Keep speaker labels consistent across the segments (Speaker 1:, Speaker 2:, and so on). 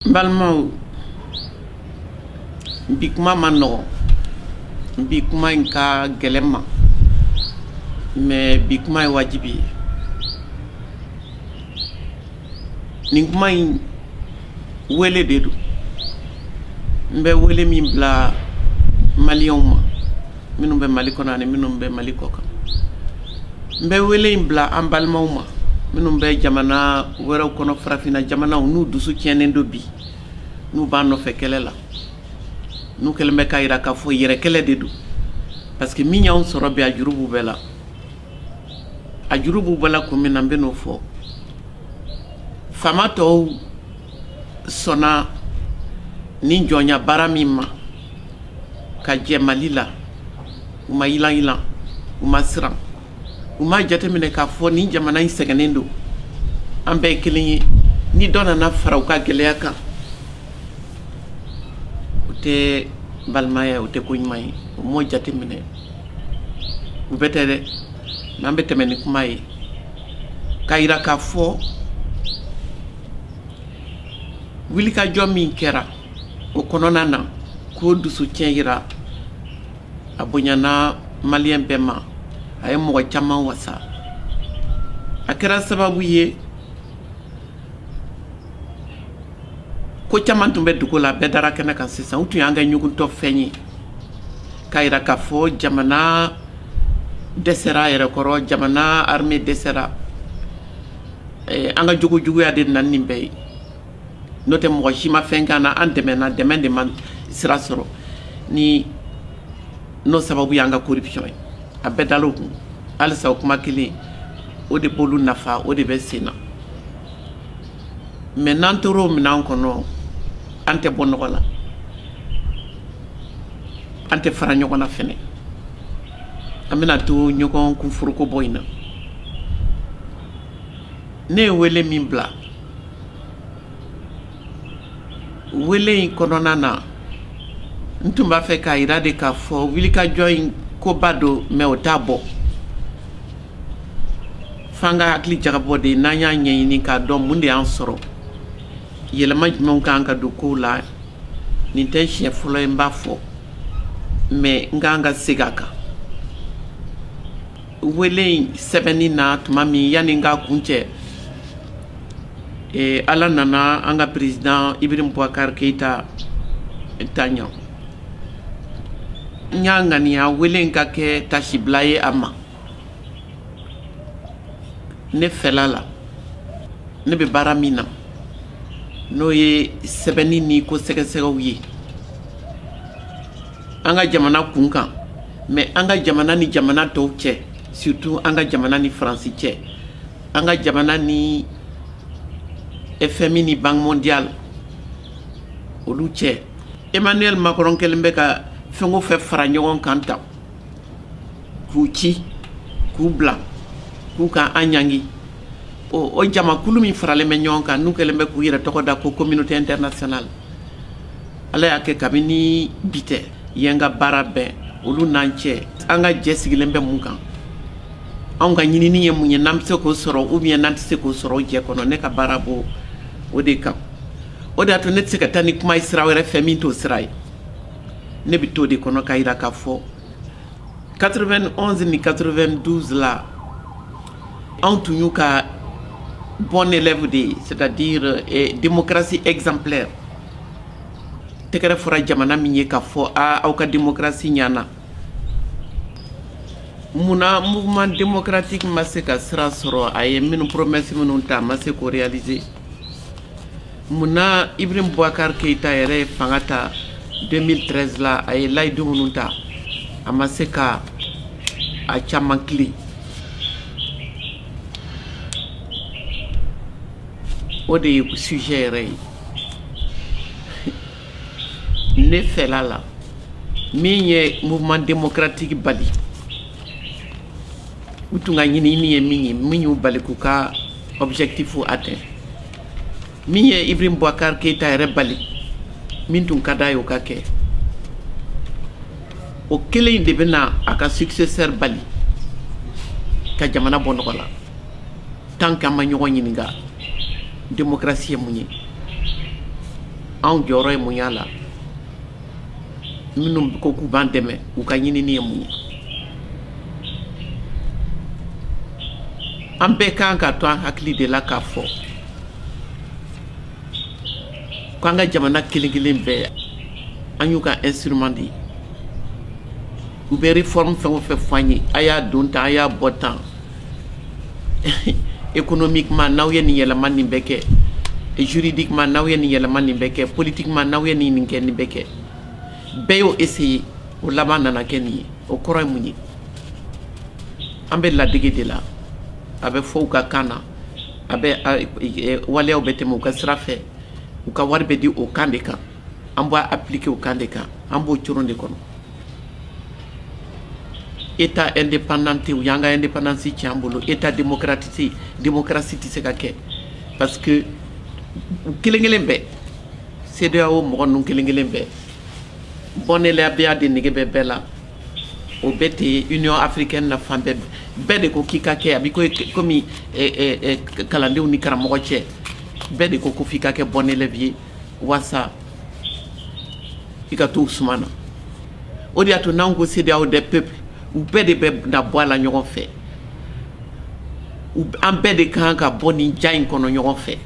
Speaker 1: n balimaw bi kuma man nɔgɔn bi kuma in ka gɛlɛn n ma mais bi kuma ye wajibi ye nin kuma in wele de don n bɛ wele min bila maliyɛnw ma minnu bɛ mali kɔnɔ ani minnu bɛ mali kɔ kan n bɛ wele in bila an balimaw ma minnu bɛ jamana wɛrɛw kɔnɔ farafinna jamanaw n'u dusu tiɲɛnen don bi n'u b'an nɔfɛ kɛlɛ la n'u kɛlen bɛ k'a jira k'a fɔ u yɛrɛ kɛlɛ de don parce que min y'anw sɔrɔ bi a juru b'u bɛɛ la a juru b'u bɛɛ la kun min na n bɛn'o fɔ faama tɔw sɔnna nin jɔnya baara min ma ka jɛ mali la u ma yilan yilan u ma siran u ma jateminɛ k'a fɔ ni jamana in sɛgɛnnen don an bɛɛ ye kelen ye ni dɔ nana fara u ka gɛlɛya kan o tɛ balimaya o tɛ ko ɲuman ye o m'o jateminɛ u bɛɛ tɛ dɛ n'an bɛ tɛmɛ ni kuma ye k'a yira k'a fɔ wulikajɔ min kɛra o kɔnɔna na k'o dusu tiɲɛ jira a bonyana maliyɛn bɛɛ ma a ye mɔgɔ caman wasa a kɛra sababu ye ko caman tun bɛ dogo la bɛɛ dara kɛnɛ kan sisan u tun y'an kɛ ɲuguntɔ fɛn ye k'a jira k'a fɔ jamana dɛsɛra a yɛrɛ kɔrɔ jamana armée dɛsɛra an ka jogojuguya de nana nin bɛɛ ye n'o tɛ mɔgɔ si ma fɛn k'an na an dɛmɛna dɛmɛ de ma sira sɔrɔ ni n'o sababu y'an ka corruption ye a bɛɛ dal'o kun halisa o kuma kelen o de b'olu nafa o de bɛ sen na mais n'an tora o minɛn kɔnɔ an tɛ bɔ nɔgɔ la an tɛ fara ɲɔgɔn na fɛnɛ an bɛna to ɲɔgɔn kunforoko bɔ in na ne ye wele min bila wele in kɔnɔna na n tun b'a fɛ k'a jira de k'a fɔ wulikajɔ in koba don mais o t'a bɔ f'an ka hakili jagabɔ de n'an y'a ɲɛɲini k'a dɔn mun de y'an sɔrɔ yɛlɛma jumɛnw kan ka don kow la nin tɛ siɲɛ fɔlɔ ye n b'a fɔ mais n kan ka segin a kan wele in sɛbɛnni na tuma min yanni n k'a kuncɛ eh, ala nana an ka président ibrahim boubacar keita ta yan n y'a ŋaniya wele in ka kɛ tasibila ye a ma ne fɛla la ne bɛ baara min na n'o ye sɛbɛnni ni ko sɛgɛsɛgɛw ye an ka jamana kunkan mais an ka jamana ni jamana tɔw cɛ surtout an ka jamana ni faransi cɛ an ka jamana ni fmi ni banque mondiale olu cɛ emmanuel macron kɛlen bɛ ka fɛn o fɛn fara ɲɔgɔn kan tan k'u ci k'u bila k'u ka an ɲangi o jamakulu min faralen bɛ ɲɔgɔn kan n'u kɛlen bɛ k'u yɛrɛ tɔgɔ da ko communauté internationale ala y'a kɛ kabini bi tɛ ye n ka baara bɛɛ olu n'an cɛ an ka jɛ sigilen bɛ mun kan anw ka ɲinini ye mun ye n'an bɛ se k'o sɔrɔ ou bien n'an tɛ se k'o sɔrɔ o jɛ kɔnɔ ne ka baara b'o o de kan o de y'a to ne tɛ se ka taa ni kuma ye sira wɛrɛ fɛ min t'o sira ye ne bɛ t'o de kɔnɔ k'a jira k'a fɔ 91 ni 92 la anw tun y'u ka bon élève de ye c'est à dire eh, démocratie exemplaire tɛgɛrɛ fɔra jamana min ye k'a fɔ aa aw ka démocratie ɲana munna mouvement démocratique ma se ka sira sɔrɔ a ye minnu promesse minnu ta a ma se k'o réaliser munna Ibrahim Boubacar Keita yɛrɛ ye fanga ta 2013 la a ye layidu minnu ta a ma se ka a caman tilen o de ye sujet yɛrɛ ye ne fɛla la min ye mouvement démocratique bali u tun ka ɲinini ye min ye min y'u bali k'u ka objectif atteint min ye Ibrahim Boubacar Keita yɛrɛ bali min tun ka d'a ye o ka kɛ o kelen in de bɛna a ka successeur bali ka jamana bɔ nɔgɔ la tant que an ma ɲɔgɔn ɲininka démocratie ye mun ye anw jɔyɔrɔ ye mun y'a la minnu ko k'u b'an dɛmɛ u ka ɲinini ye mun ye an bɛɛ kan k'a to an hakili de la k'a fɔ k'an ka jamana kelen kelen bɛɛ an y'u ka instrument de ye u bɛ réforme fɛn o fɛn fɔ an ye a y'a don tan a y'a bɔ tan économiquement n'aw ye nin yɛlɛma nin bɛ kɛ juridiquement n'aw ye nin yɛlɛma nin bɛ kɛ politiquement n'aw ye nin nin kɛ nin bɛ kɛ bɛɛ y'o essayer o laban nana kɛ nin ye o kɔrɔ ye mun ye an bɛ ladege de la a bɛ fɔ u ka kan na a bɛ e, waleyaw bɛ tɛmɛ u ka sira fɛ u ka wari bɛ di o kan de kan an b'a appliquer o kan de kan an b'o coron de kɔnɔ État indépendant tɛ u y'an ka indépendance tiɲɛ an bolo État démocratique démocratie tɛ se ka kɛ parce que u kelen kelen bɛɛ CEDEAO mɔgɔ ninnu kelen kelen bɛɛ bon élèveya de nege bɛ bɛɛ la o bɛ ten Union africaine na fan bɛɛ bɛɛ de ko k'i ka kɛ a bɛ ko kɔmi kalandenw ni karamɔgɔ cɛ bɛɛ de ko ko f'i ka kɛ bon élève ye walasa i ka to u suma na o de y'a to n'an ko CEDEAO des peuples u bɛɛ de bɛ na bɔ a la ɲɔgɔn fɛ an bɛɛ de ka kan ka bɔ nin jan in kɔnɔ ɲɔgɔn fɛ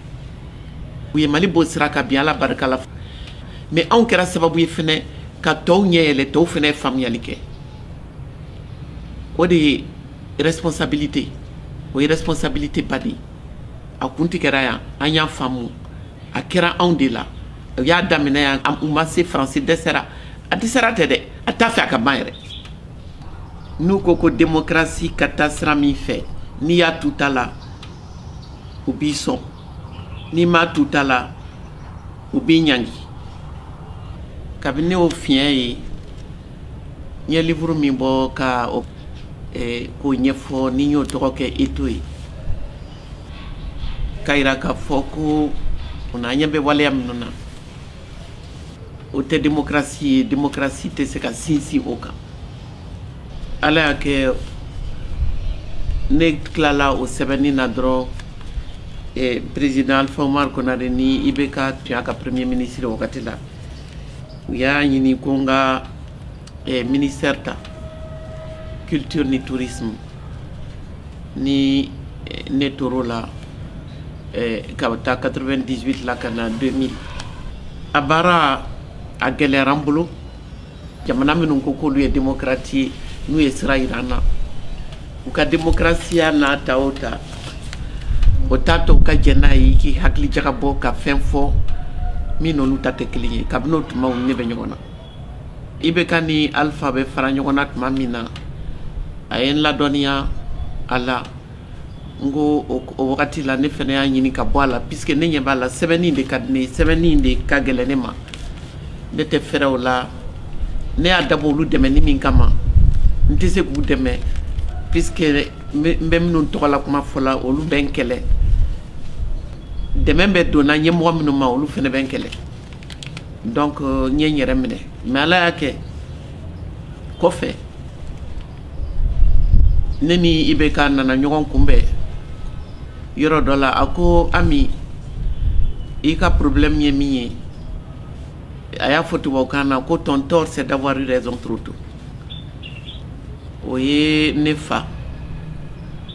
Speaker 1: u ye Mali bɔ sira kan bi Ala barika la mais anw kɛra sababu ye fɛnɛ ka tɔw ɲɛ yɛlɛ tɔw fɛnɛ ye faamuyali kɛ o de ye responsabilité o ye responsabilité ba de ye a kun tigɛra yan an y'a faamu a kɛra anw de la u y'a daminɛ yan u ma se faransi dɛsɛra a dɛsɛra tɛ dɛ a t'a fɛ a ka ban yɛrɛ n'u ko ko démocratie ka taa sira min fɛ n'i y'a tu ta la u b'i sɔn n'i m'a tu ta la u b'i ɲangi kabini ne y'o fiɲɛ ye n ye liburu min bɔ ka k'o ɲɛfɔ ni n y'o tɔgɔ kɛ Étau ye K'a jira k'a fɔ ko o an ɲɛ bɛ waleya minnu na o tɛ démocratie ye démocratie tɛ se ka sinsin o kan ala y'a kɛ ne tilala o sɛbɛnni na dɔrɔn président Alpha Oumar Konaré ni IBK tun y'a ka premier ministre o wagati la u y'a ɲini ko n ka e ministère ta culture ni tourisme ni eh, ne tor'o la eh, k'a ta 98 la ka na 2000 a baara a gɛlɛyara n bolo jamana minnu ko k'olu ye démocratie ye n'u ye sira yira an na u ka démocratie n'a ta o ta o t'a to u ka jɛn n'a ye k'i hakili jagabɔ ka fɛn fɔ min n'olu ta tɛ kelen ye kabini o tuma u ni ne bɛ ɲɔgɔn na ibk ni alpha bɛ fara ɲɔgɔn na tuma min na a ye n ladɔnniya a la n ko o wagati la ne fɛnɛ y'a ɲini ka bɔ a la puisque ne ɲɛ b'a la sɛbɛnni de ka di ne ye sɛbɛnni de ka gɛlɛn ne ma ne tɛ fɛrɛ o la ne y'a dabɔ olu dɛmɛni min kama n tɛ se k'u dɛmɛ puisque n bɛ minnu tɔgɔ la kuma fɔ la olu bɛ n kɛlɛ dɛmɛ bɛ donna ɲɛmɔgɔ minnu ma olu fɛnɛ bɛ n kɛlɛ donc euh, n ye n yɛrɛ minɛ mais ala y'a kɛ kɔfɛ ne ni ibk nana ɲɔgɔn kunbɛn yɔrɔ dɔ la a ko ami i ka problème ye min ye a y'a fɔ tubabukan na ko ton tort c'est d'avoir eu raison trop tôt o ye ne fa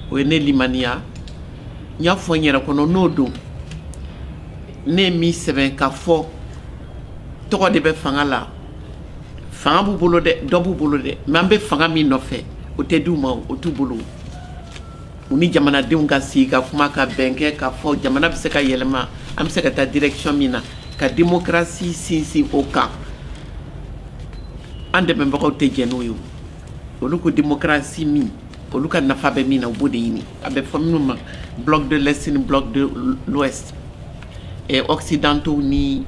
Speaker 1: o ye ne limaniya n y'a fɔ n yɛrɛ kɔnɔ n'o don ne ye min sɛbɛn ka fɔ tɔgɔ de bɛ fanga la fanga b'u bolo dɛ dɔ b'u bolo dɛ mais an bɛ fanga min nɔfɛ o tɛ di u ma o t'u bolo u ni jamanadenw ka sigi ka kuma ka bɛn kɛ ka fɔ jamana bɛ se ka yɛlɛma an bɛ se ka taa direction min na ka démocratie sinsin o kan an dɛmɛbagaw tɛ jɛn n'o ye olu ko démocratie min olu ka nafa bɛ min na u b'o de ɲini a bɛ fɔ minnu ma bloc de l'est ni bloc de l'ouest eh, occidentaux ni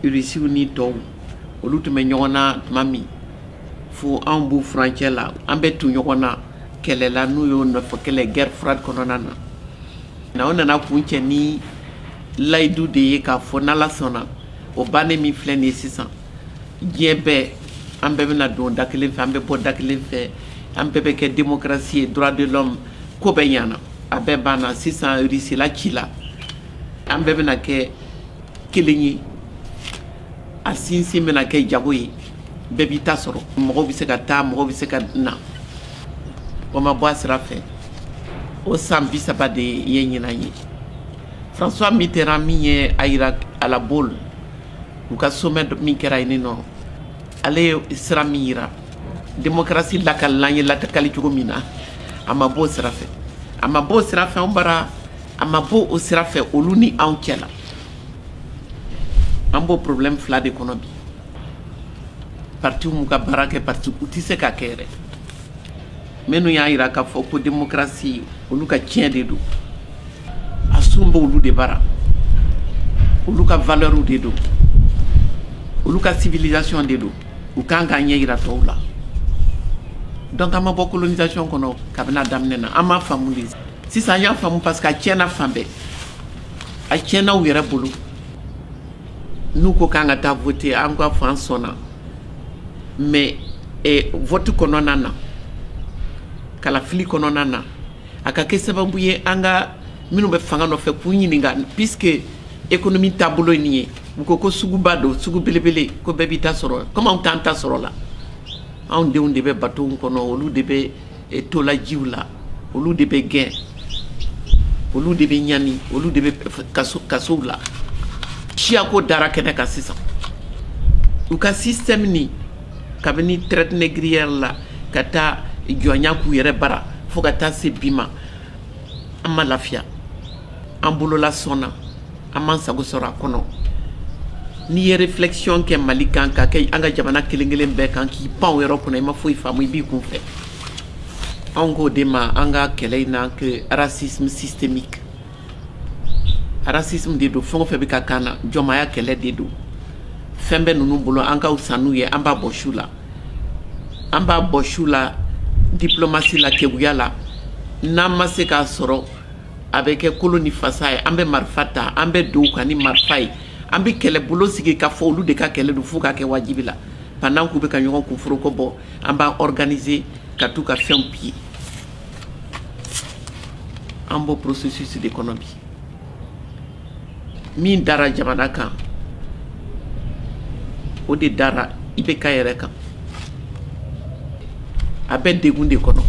Speaker 1: rusiw ni tɔw olu tun bɛ ɲɔgɔn na tuma min fo anw b'u furancɛ la an bɛ tu ɲɔgɔn na kɛlɛ la n'u y'o nɔfɛ kɛlɛ guerre froide kɔnɔna na na o nana kuncɛ ni layidu de ye k'a fɔ n'ala sɔnna o bannen min filɛ nin ye sisan diɲɛ bɛɛ an bɛɛ bɛna don da kelen fɛ an bɛ bɔ da kelen fɛ an bɛɛ bɛ kɛ démocratie ye droit de l'homme ko bɛɛ ɲana a bɛɛ banna sisan risila cila an bɛɛ bɛna kɛ kelen ye a sinsin bɛna kɛ jago ye bɛɛ b'i ta sɔrɔ mɔgɔw bɛ se ka taa mɔgɔw bɛ se ka na o ma bɔ a sira fɛ o san bi saba de ye ɲinan ye françois mitterrand min ye a yira à la baule u ka sommet min kɛra yen nɔ ale ye sira min yira démocratie lakalila an ye lakali cogo min na a ma bɔ o sira fɛ a ma bɔ o sira fɛ anw bara a ma bɔ o sira fɛ olu ni anw cɛ la an b'o problème fila de kɔnɔ bi partiw m'u ka baara kɛ partiw tɛ se k'a kɛ yɛrɛ minnu y'a yira k'a fɔ ko démocratie olu ka tiɲɛ de don a sun b'olu de bara olu ka valeurw de don olu ka civilisation de don u kan k'a ɲɛ yira tɔw la donc an ma bɔ colonisation kɔnɔ kabini a daminɛ na an m'a faamu de sisan an y'a faamu parce que a tiɲɛna fan bɛɛ a tiɲɛna u yɛrɛ bolo n'u ko k'an ka taa voter an k'a fɔ an sɔnna mais vote kɔnɔna na kalafili kɔnɔna na a ka kɛ sababu ye an ka minnu bɛ fanga nɔfɛ k'u ɲininka puisque économie taabolo ye nin ye u ko ko suguba don sugu belebele ko bɛɛ b'i ta sɔrɔ comme anw t'an ta sɔrɔ la anw denw de bɛ bateau kɔnɔ olu de bɛ e to la jiw la olu de bɛ gɛn olu de bɛ ɲani olu de bɛ kasow la siyako dara kɛnɛ kan sisan u ka système ni kabini traite négrière la ka taa jɔnya k'u yɛrɛ bara fo ka taa se bi ma an ma lafiya an bolola sɔnna An m'an sago sɔrɔ a kɔnɔ n'i ye réflexion kɛ Mali kan ka kɛ an ka jamana kelen kelen bɛɛ kan k'i pan o yɔrɔ kunna i ma foyi faamu i b'i kun fɛ anw k'o de ma an ka kɛlɛ in na que racisme systémique racisme de don fɛn o fɛn bɛ ka k'an na jɔnmaya kɛlɛ de don fɛn bɛ ninnu bolo an ka fisa n'u ye an b'a bɔs'u la an b'a bɔs'u la diplomatie la keguya la n'an ma se k'a sɔrɔ a bɛ kɛ kolo ni fasa ye an bɛ marifa ta an bɛ don u kan ni marifa ye an bɛ kɛlɛbolo sigi ka fɔ olu de ka kɛlɛ don fo ka kɛ wajibi la pendant k'u bɛ ka ɲɔgɔn kunforoko bɔ an b'a organiser ka t'u ka fɛnw piller an b'o processus de kɔnɔ bi min dara jamana kan o de dara IBK yɛrɛ kan a bɛ degun de kɔnɔ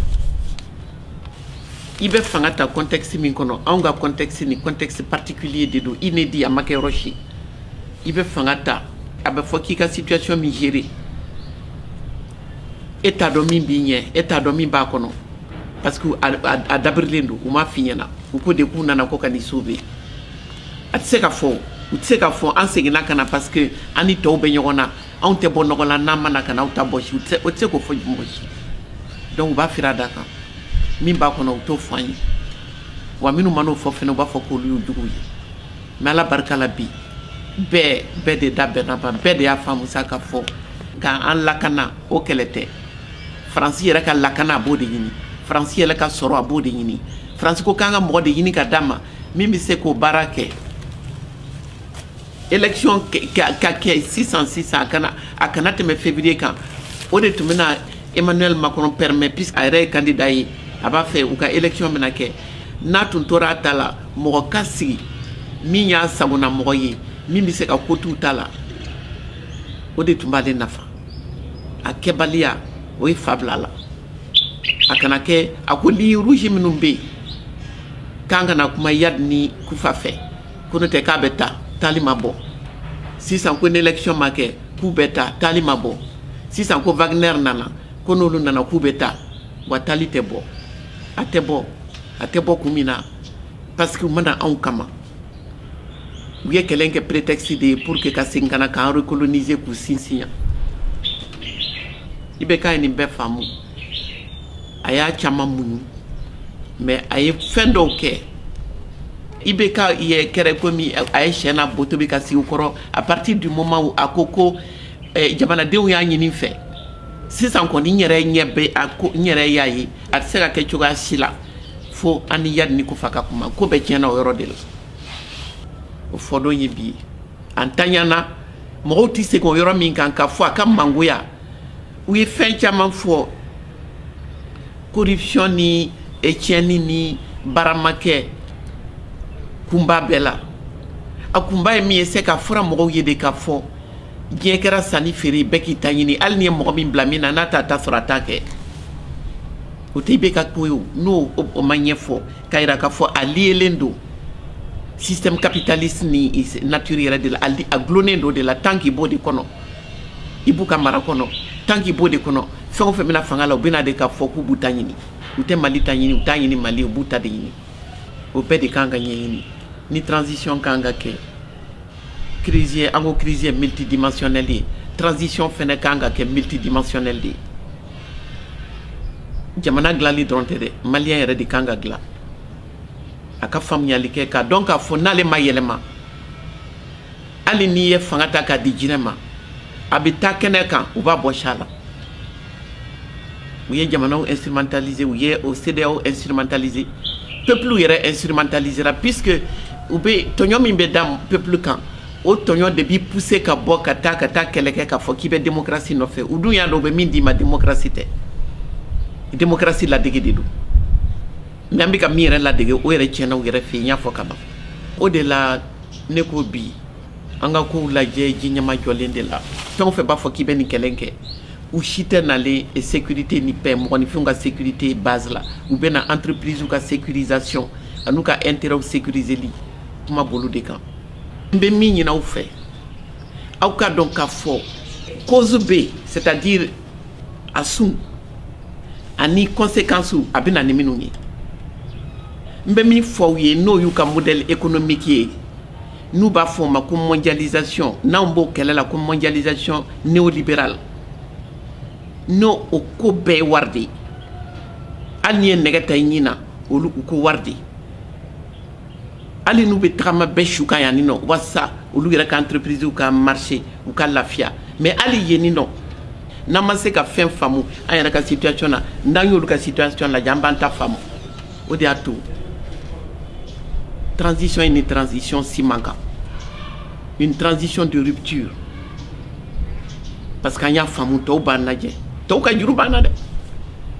Speaker 1: i bɛ fanga ta contexte min kɔnɔ anw ka contexte nin contexte particulier de don inédit a ma kɛ yɔrɔ si i bɛ fanga ta a bɛ fɔ k'i ka situation min gérer e t'a dɔn min b'i ɲɛ e t'a dɔn min b'a kɔnɔ parce que a dabirilen don u m'a f'i ɲɛna u ko de k'u nana ko ka n'i sauver a tɛ se ka fɔ u tɛ se ka fɔ an seginna ka na parce que an ni tɔw bɛ ɲɔgɔn na anw tɛ bɔ nɔgɔ la n'an ma na ka na aw ta bɔsi o tɛ se k'o fɔ mɔgɔ si donc u b'a fira da kan min b'a kɔnɔ u t'o fɔ an ye wa minnu man'o fɔ fana u b'a fɔ k'olu y'u juguw ye mais ala barika la bi bɛɛ bɛɛ de da bɛnna ban bɛɛ de y'a faamu sa ka fɔ k'an lakana o kɛlɛ tɛ faransi yɛrɛ ka lakana a b'o de ɲini faransi yɛrɛ ka sɔrɔ a b'o de ɲini faransi ko k'an ka mɔgɔ de ɲini ka d'a ma min bɛ se k'o baara kɛ élection ka kɛ sisan sisan a kana a kana tɛmɛ février kan o de tun bɛna Emmanuel Macron permet puisque a yɛrɛ ye candidat ye a b'a fɛ u ka élection bɛna kɛ n'a tun tora a ta la mɔgɔ ka sigi min y'a sagona mɔgɔ ye min bɛ se ka ko t'u ta la o de tun b'ale nafa a kɛbaliya o ye fa bila a la a kana kɛ a ko ligne rouge minnu bɛ yen k'an kana kuma Iyad ni Koufa fɛ Ko n'o tɛ k'a bɛ taa taali ma bɔ sisan ko ni élection ma kɛ k'u bɛ taa taali ma bɔ sisan ko Wagner nana ko n'olu nana k'u bɛ taa wa taali tɛ bɔ a tɛ bɔ a tɛ bɔ kun min na parce que u ma na anw kama u ye kɛlɛ in kɛ prétexte de ye pour que ka segin ka na k'an recoloniser k'u sinsin yan IBK ye nin bɛɛ faamu. a y'a caman muɲu mais a ye fɛn dɔw kɛ IBK yɛrɛ kɛra komi a ye sɛ n'a bo tobi ka sigi u kɔrɔ à partir du moment où a ko ko eh, jamanadenw y'a ɲini n fɛ sisan kɔni n yɛrɛ ɲɛ bɛ a ko n yɛrɛ y'a ye a tɛ se ka kɛ cogoya si la fo an ni Iyadi ni Kufa ka kuma ko bɛɛ tiɲɛna o yɔrɔ de la o fɔ don ye bi ye an tanyana mɔgɔw tɛ segin o yɔrɔ min kan k'a fɔ a ka mangoya u ye fɛn caman fɔ corruption ni tiɲɛni ni baaramakɛ kunba bɛɛ la a kunba ye min ye c'est qu'a fɔra mɔgɔw ye de k'a fɔ diɲɛ kɛra sanni feere bɛɛ k'i ta ɲini hali n'i ye mɔgɔ min bila min na n'a t'a ta sɔrɔ a t'a kɛ o tɛ IBK ko ye n'o ma ɲɛfɔ k'a yira k'a fɔ a liyelen don système capitaliste nin nature yɛrɛ de la a gulonnen don de la tant qu'i b'o de kɔnɔ i b'u ka mara kɔnɔ tant qu'i b'o de kɔnɔ fɛn o fɛn bɛna fanga la u bɛna de k'a fɔ k'u b'u ta ɲini u tɛ Mali ta ɲini u t'a ɲini Mali u b'u ta de ɲini o bɛɛ de kan ka ɲɛɲini ni transition kan ka kɛ crise ye an ko crise ye multidimensionnelle ye transition fana kan ka kɛ multidimensionnelle de ye jamana dilanli dɔrɔn tɛ dɛ maliyɛn yɛrɛ de kan ka dilan a ka faamuyali kɛ k'a dɔn k'a fɔ n'ale ma yɛlɛma hali n'i ye fanga ta k'a di jinɛ ma a bɛ taa kɛnɛ kan u b'a bɔs'a la u ye jamanaw instrumentaliser u ye o CEDEAO instrumentaliser peuple yɛrɛ instrumentalisera puisque u bɛ tɔɲɔ min bɛ da peuple kan o tɔɲɔ de b'i pousser ka bɔ ka taa ka taa kɛlɛ kɛ k'a fɔ k'i bɛ démocratie nɔfɛ u dun y'a dɔn u bɛ min d'i ma démocratie tɛ démocratie ladege de don mais an bɛ ka min yɛrɛ ladege o yɛrɛ tiɲɛna u yɛrɛ fɛ yen n y'a fɔ kaban o de la ne ko bi an ka kow lajɛ ji ɲɛmajɔlen de la fɛn o fɛn b'a fɔ k'i bɛ nin kɛlɛ kɛ u si tɛ nalen sécurité ni paix mɔgɔninfinw ka sécurité base la u bɛ na entreprisew ka sécurisation an'u ka intérêt sécuriserli kuma b'olu de kan n bɛ min ɲini aw fɛ aw k'a dɔn k'a fɔ cause bɛ yen c'est à dire a sun ani conséquencew a bɛ na ni minnu ye n bɛ min fɔ aw ye n'o y'u ka modèle économique ye n'u b'a fɔ o ma ko mondialisation n'anw b'o kɛlɛ la ko mondialisation néolibérale n'o o ko bɛɛ ye wari de ye hali n'i ye nɛgɛ ta i ɲin na olu u ko wari de ye hali n'u bɛ tagama bɛɛ su kan yan ni nɔ walasa olu yɛrɛ ka entreprisew ka marcher u ka lafiya mais hali yen ni nɔ n'an ma se ka fɛn faamu an yɛrɛ ka situation na n'an y'olu ka situation lajɛ an b'an ta faamu o de y'a to transition ye ni transition si man kan une transition de rupture Parce que an y'a faamu tɔw b'an lajɛ tɔw ka juru b'an na dɛ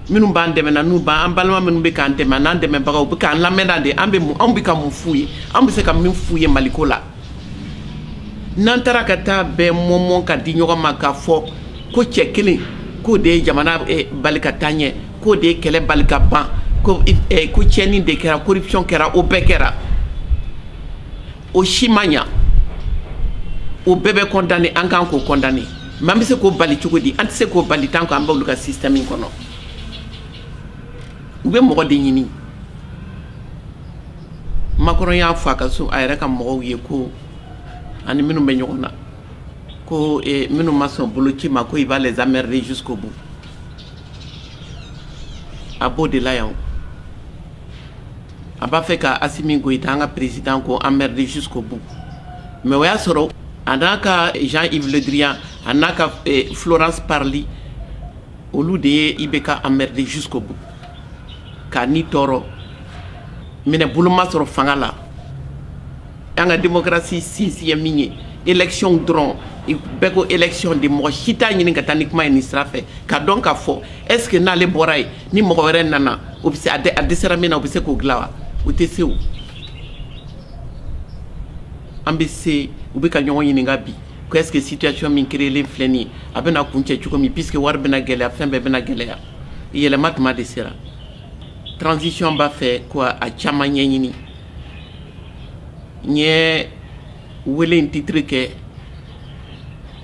Speaker 1: minnu b'an dɛmɛ na n'u b'an an balima minnu bɛ k'an dɛmɛ n'an dɛmɛbagaw u bɛ k'an lamɛnna de an bɛ mun anw bɛ ka mun f'u ye an bɛ se ka min f'u ye maliko la n'an taara ka taa bɛɛ mɔmɔ ka di ɲɔgɔn ma k'a fɔ ko cɛ kelen k'o de ye jamana bali ka taa ɲɛ k'o de ye kɛlɛ bali ka ban ko tiɲɛni de kɛra corruption kɛra o bɛɛ kɛra o si ma ɲɛ o bɛɛ bɛ condamner an kan k'o condamner mais an bɛ se k'o bali cogo di an tɛ se k'o bali tant qu'an b'olu ka système in kɔnɔ u bɛ mɔgɔ de ɲini Macron y'a fɔ a ka so a yɛrɛ ka mɔgɔw ye ko ani minnu bɛ ɲɔgɔn na ko eh, minnu ma sɔn boloci ma ko il va les emmerder jusqu'au bout a b'o de la yan a b'a fɛ k' a min ko i an ka peresi ko anmerisu bon mɛ o y'a sɔrɔ a n'a ka jan ifilidiriya a n'a ka fsili olu de ye i bɛ ka anmerisu ko bon ka ni tɔɔrɔ minɛ boloma sɔrɔ fanga la an ka den kɛrasi sinsiya min ye ecɔn dɔrɔn bɛɛ ko ecɔn de mɔgɔ si t'a ɲini ka taa ni kuma ye nin sira ka dɔn ka fɔ esseke n'ale bɔra ye ni mɔgɔ wɛrɛ nana o bɛ se a dɛsɛra min na o bɛ se k'o dilan wa o tɛ se o an bɛ se u bɛ ka ɲɔgɔn ɲininka bi ko est-ce que situation min créer-len filɛ nin ye a bɛna kuncɛ cogo min puisque wari bɛna gɛlɛya fɛn bɛɛ bɛna gɛlɛya yɛlɛma tuma de sera transition b'a fɛ k'a caman ɲɛɲini n ye wele in titre kɛ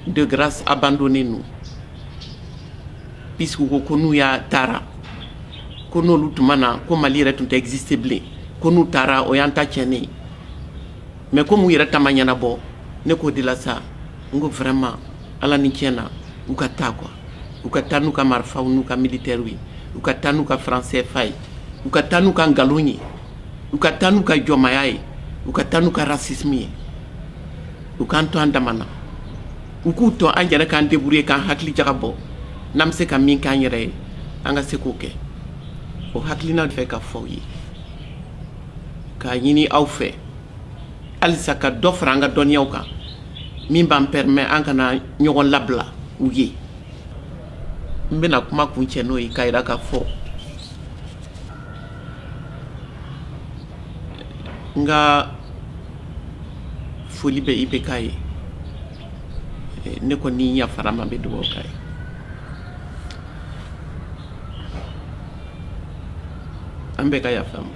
Speaker 1: de grâce abandonnez-nous Puisqu'u ko ko n'u y'a taara ko n'olu tun ma na ko Mali yɛrɛ tun tɛ exister bilen ko n'u taara o y'an ta tiɲɛnen ye mais comme u yɛrɛ ta ma ɲɛnabɔ ne k'o de la sa n ko vraiment Ala ni tiɲɛ na u ka taa quoi u ka taa n'u ka marifaw n'u ka militairew ye u ka taa n'u ka franc CFA ye u ka taa n'u ka nkalon ye u ka taa n'u ka jɔnmaya ye u ka taa n'u ka racisme ye u k'an to an dama na U k'u to an yɛrɛ k'an débrouiller k'an hakili jagabɔ n'an bɛ se ka min k'an yɛrɛ ye an ka se k'o kɛ o hakilina fɛ k'a fɔ aw ye k'a ɲini aw fɛ halisa ka dɔ fara an ka dɔnniyaw kan min b'an permettre an kana ɲɔgɔn labila u ye n bɛna kuma kuncɛ n'o ye k'a yira k'a fɔ n ka foli bɛ IBK ye ne kɔni yafara a ma bɛ dugawu k'a ye an bɛɛ ka yafa a ma